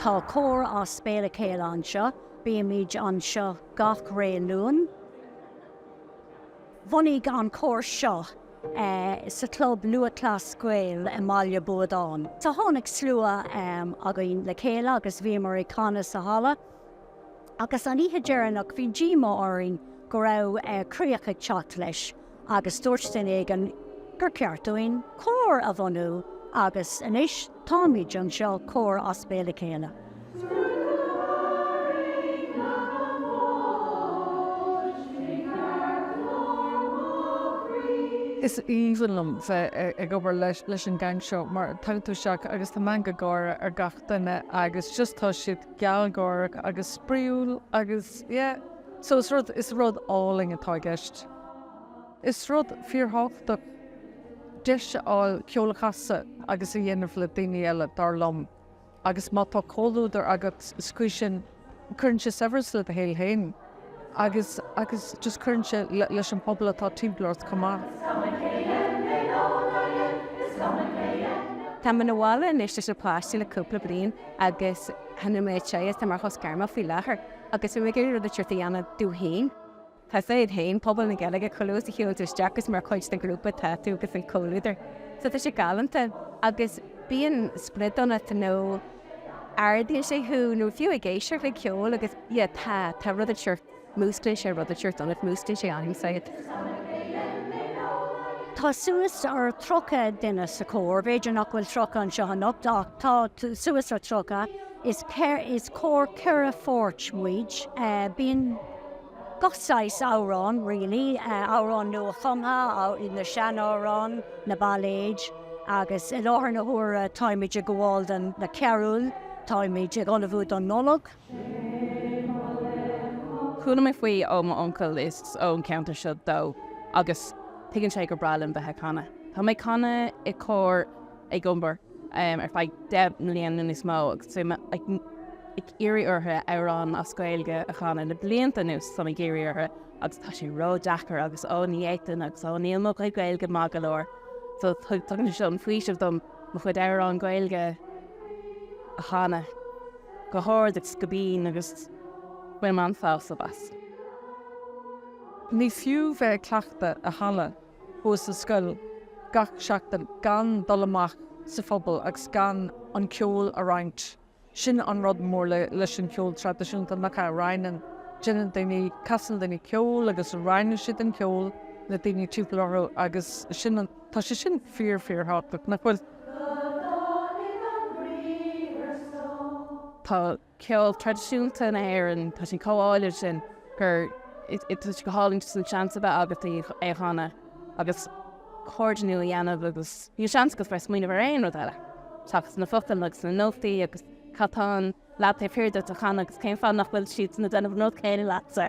Tá Cór as Béal a Chéile anseo. Bímid anseo gach ré Luan. Bhunaigh an Cór seo sa Chlub Lúthchleas Gael i mBaile Buadáin. So tháinig slua againn le chéile agus bhíomar ag canadh sa halla agus an oíche dheireanach bhí díomá orainn go raibh críoch ag teacht leis. agus dúirt duine éigin gur cheart dúinn cór a bhunú agus anois táimid anseo, cór as béal a chéile. Is aoibhinn liom bheith ag obair leis an gang seo mar tagann tú isteach agus tá meangadh gáire ar gach duine agus just tá siad gealgháireach agus spraíúil agus yeah, so is rud, is rud álainn atá i gceist. Is rud fíorthábhachtach deis a fháil ceol a chasadh agus a dhéanamh le daoine eile, dar liom, agus má tá comhluadar agus cóisir, cuireann sé saibhreas le do shaol féin agus agus just cuireann sé leis an phobal atá timpeall ort chomh maith. Tá mé sa bhaile anois leis na páistí le cúpla bliain agus tá mé ag try, tá mé ar shos gairme faoi láthair agus bhí mé ag iarraidh rud éicint a dhéanamh domh féin. Tá siad fhéin, pobal na Gaeilge, chomh luath is a shiúlann tú isteach is mar chuid den ghrúpa atá tú agus an comhluadar. So tá sé galánta agus bíonn sprid ionat nó ardaíonn sé thú nó fiú ag éisteacht le ceol agus yeah tá, tá rud éicint, músclaíonn sé rud éicint ionat, músclaíonn sé anam said. Tá suas ar tríocha duine sa chór, b'fhéidir nach bhfuil tríocha anseo anocht ach tá suas ar tríocha is cór ceithre pháirt muid. Bíonn. gach saghas amhráin really, amhráin nua-chumtha, na sean-amhráin, na bailéid agus i láthair na huaire táimid ag gabháil do na carúil, táimid ag ullmhú don Nollaig. Chuala mé faoi ó m'uncail, is ón gceantar seo dó agus tuigeann sé gur breá liom bheith ag canadh. Tá mé ag canadh i gcór ag an obair ar feadh deich mbliain nó níos mó agus bhí mé ag iarraidh orthu amhráin as Gaeilge a chanadh le blianta anuas, tá mé ag iarraidh orthu agus tá sé ró-deacair agus ó ní fhéadfainn agus ó níl mo chuid Gaeilge maith go leor so tugann sé seo an faoiseamh dom mo chuid amhráin Gaeilge a chanadh go hard agus go binn agus bainim an-sásamh as. Ní fiú bheith ag cleachtadh i halla thuas sa scoil gach seachtain gan dul amach sa phobal agus gan an ceol a roinnt. Sin an rud mór le leis an cheol traidisiúnta nach ea? Roinneann, déanann daoine, casann daoine ceol agus roinneann siad an ceol le daoine timpeall orthu agus sin an, tá sé sin fíor fíor thábhachtach, nach bhfuil? Tá. ceol traidisiúnta na hÉireann, tá sé chomh álainn sin gur, tá sé go hálainn just an seans a bheith agat é a chanadh agus comhordú a dhéanamh agus níl seans agat bheith ag smaoineamh ar aon rud eile seachas na focail agus na nótaí agus cad tá an leaid taobh thiar duit a chanadh agus cén fáth nach bhfuil siad ag déanamh an rud céanna leatsa.